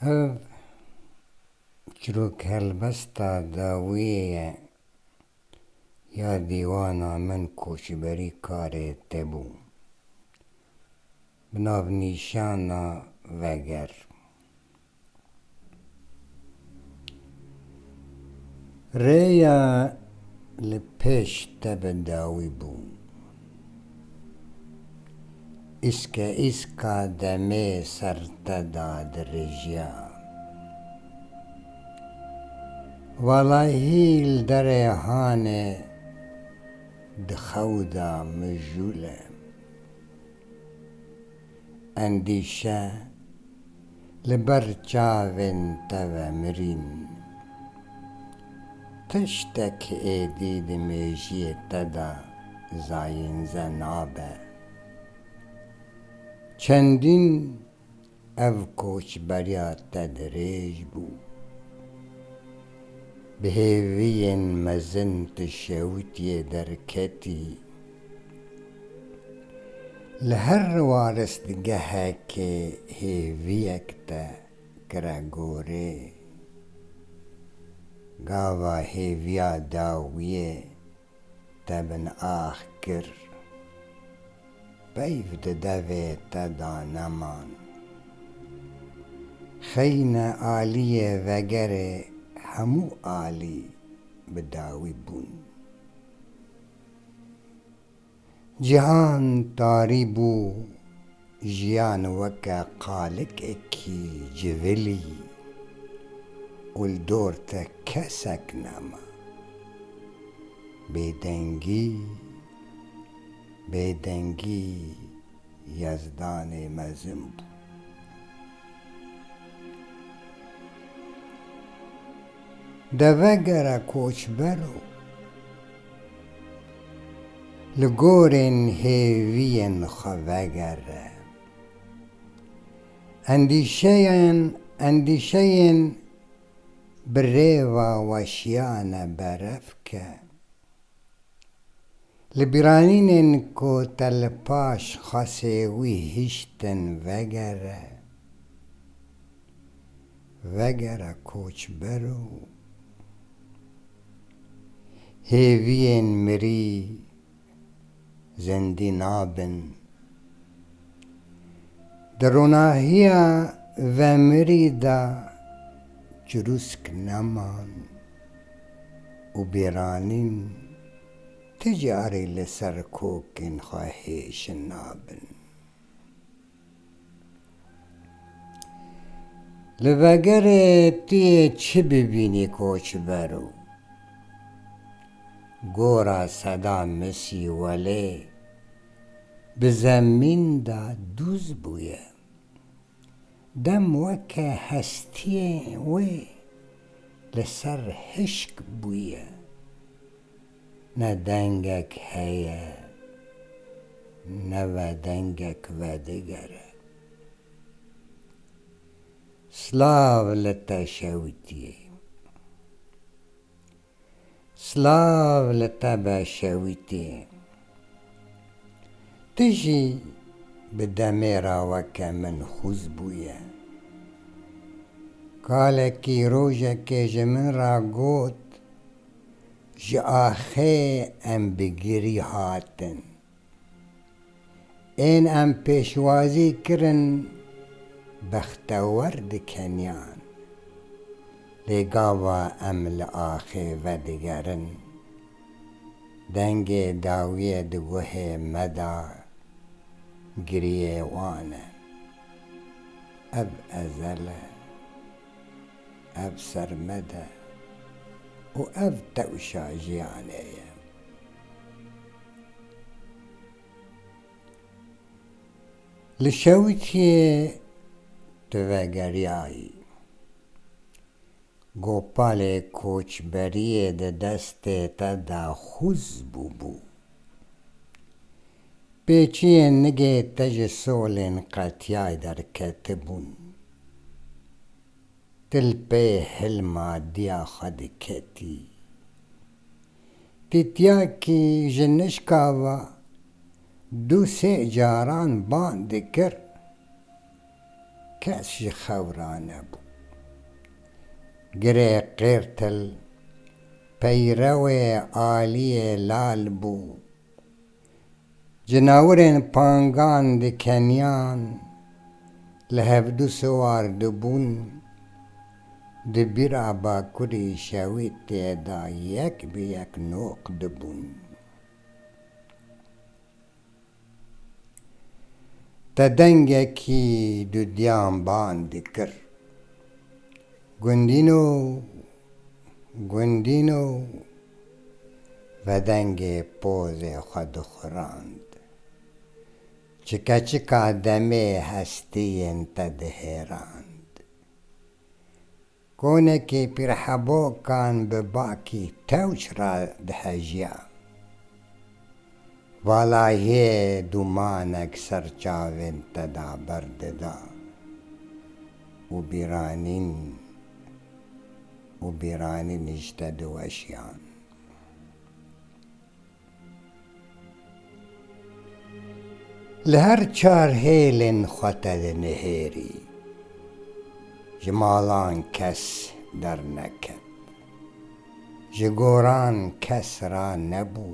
Ev çirok helbesta dawiyê ye ya dîwana min koçberî karê te bû. Bi navnîşana Veger Rêya li pêş te bi dawî bû. Îskeîska demê ser te da dirêjiya. Walahî li derê hanê di xew da mijûl e. endîşe li ber çavên te ve mirîn. Tiştek êdî di mêjiyê te de zayînze nabe. Çendîn ev koçberiya te dirêj bû. Bi hêviyên mezin tu şewitiyê derketî. Li her riwariztgehekê hêviyek te kire gorê, gava hêviya dawiyê te bin ax kir, peyv di devê te da neman. Xeyne aliyê vegerê hemû alî bi dawî bûn. Cihan tarî bû, jiyan weke qalikekî civilî û li dor te kesek nema. Bêdengî, bêdengî yezdanê mezin bû. Deve gere koçber o. Li gorên hêviyên xwe vegere. Endîşeyên endîşeyên bi rêva weşiyane berev ke. Li bîranînên ku te li paş xasê wî hiştin vegere. Vegere koçber û hêviyên mirî zindî nabin. Di ronahiya vemirî de çirûsk neman û bêranîn ti carî li ser kokên xwe hêşin nabin. Li vegerê tu yê çi bibînî koçber û gora seda misî welê bi zemîn de dûz bûye. Dem weke hestiyên wê li ser hişk bûye. Ne dengek heye, ne ve dengek vedigere. Silav li te şewitiyê. Silav li te be şewitiyê. Tu jî bi demê ra weke min xûz bûye. Kalekî rojekê ji min ra got, Ji axê em bi girî hatin. Ên em pêşwazî kirin bextewer dikeniyan. Lê gava em li axê vedigerin. Dengê dawiyê di guhê me de giriyê wan e. Ev ezel e. Ev sermed e û ev tewşa jiyanê ye. Li Şewitiyê tu vegeriyayî, Gopalê koçberiyê di destê te de xûz bûbû. Pê çiyên nigê te ji solên qetiyay derketibûn. Ti li pey hilma diya xwe diketî. Tîtyakî ji nişka ve du sê caran bang dikir, kes ji xewra nebû. Girê qêrtil peyrewê aliyê lal bû. Cenawirên pangan li Kenyan li hevdu siwar dibûn, di bîra Bakurê şewê têda yek bi yek noq dibûn. Te dengekî dudiyan band dikir, Gundîno! Gundîno! Vedengê pozê xwe dixurand. Çike çika demê hestiyên te dihêrand. Konekî pîrhebokan bi bakî tewş re dihejiya. Valayê dûmanek ser çavên te de berdida û bîranîn. û bîranî nîşte di weşiyan. Li her çar hêlên xwe te di nihêrî, ji malan kes derneket, ji goran kes ra nebû,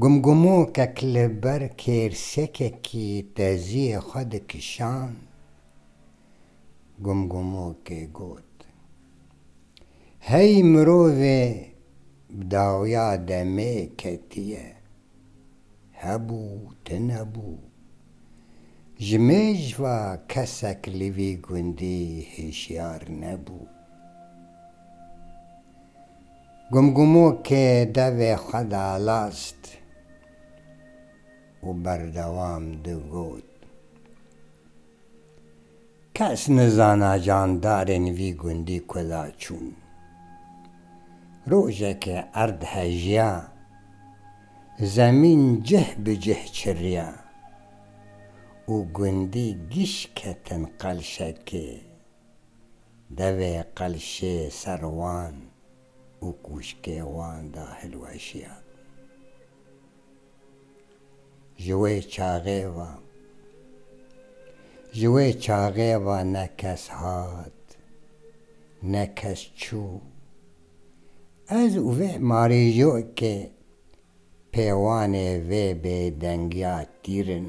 Gumgumokek li ber kêrsekekî teziyê xwe dikişand, gumgumokê got, Hey mirovê bi dawiya demê ketiye, hebû tunebû, ji mêjva kesek li vî gundî hişyar nebû. Gumgumo kê devê xwe dalast û berdewam digot, Kes nizana candarên vî gundî kuda çûn. Rojekê erd hejiya, zemîn cih bi cih çiriya û gundî giş ketin qelşekê. Devê qelşê ser wan û kûşkê wan de hilweşiya. Ji wê çaxê ve, ji wê çaxê ve ne kes hat, ne kes çû. Ez û vê marîjokê pêwanê vê bêdengiya tîr in.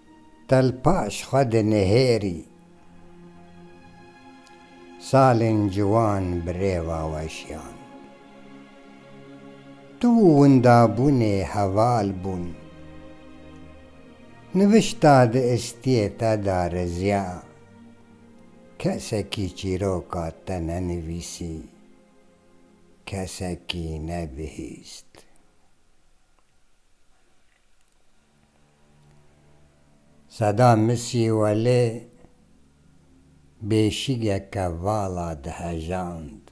Tel paş xwe dinihêrî. Salên ciwan bi rêva weşiyan. Tu û windabûnê heval bûn. Nivişta di istiyê te de riziya. Kesekî çîroka te nenivîsî. Kesekî nebihîst. Seda Misî welê bêşigeke vala dihejand.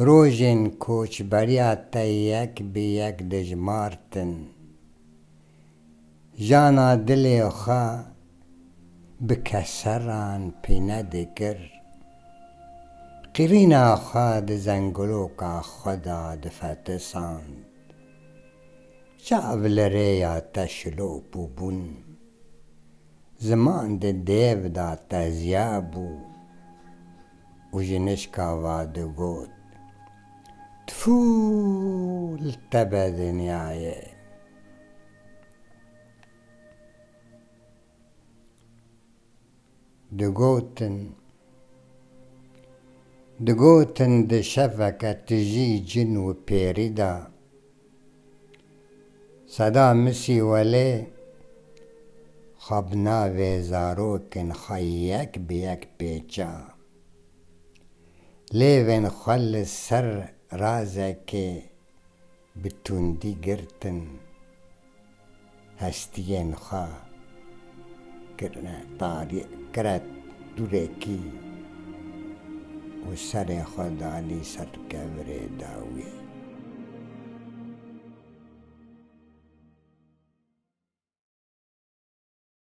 Rojên koçberiya te yek bi yek dijmartin. Jana dilê xwe bi keseran pîne dikir. Qirîna xwe di zengiloka xwe de difetisand. Çav li rêya te şilo bû bûn. Ziman di dêv da tezya bû û ji nişka va digot, Tfu li te be dinyayê! Digotin, digotin di şeveke tijî cin û pêrî de, seda misî welê xwe bi navê zarokên xwe yek bi yek pêça. Lêvên xwe li ser razekê Bi tundî girtin hestiyên xwe kirine tarî kiret dûrekî û serê xwe danî ser kevirê dawî.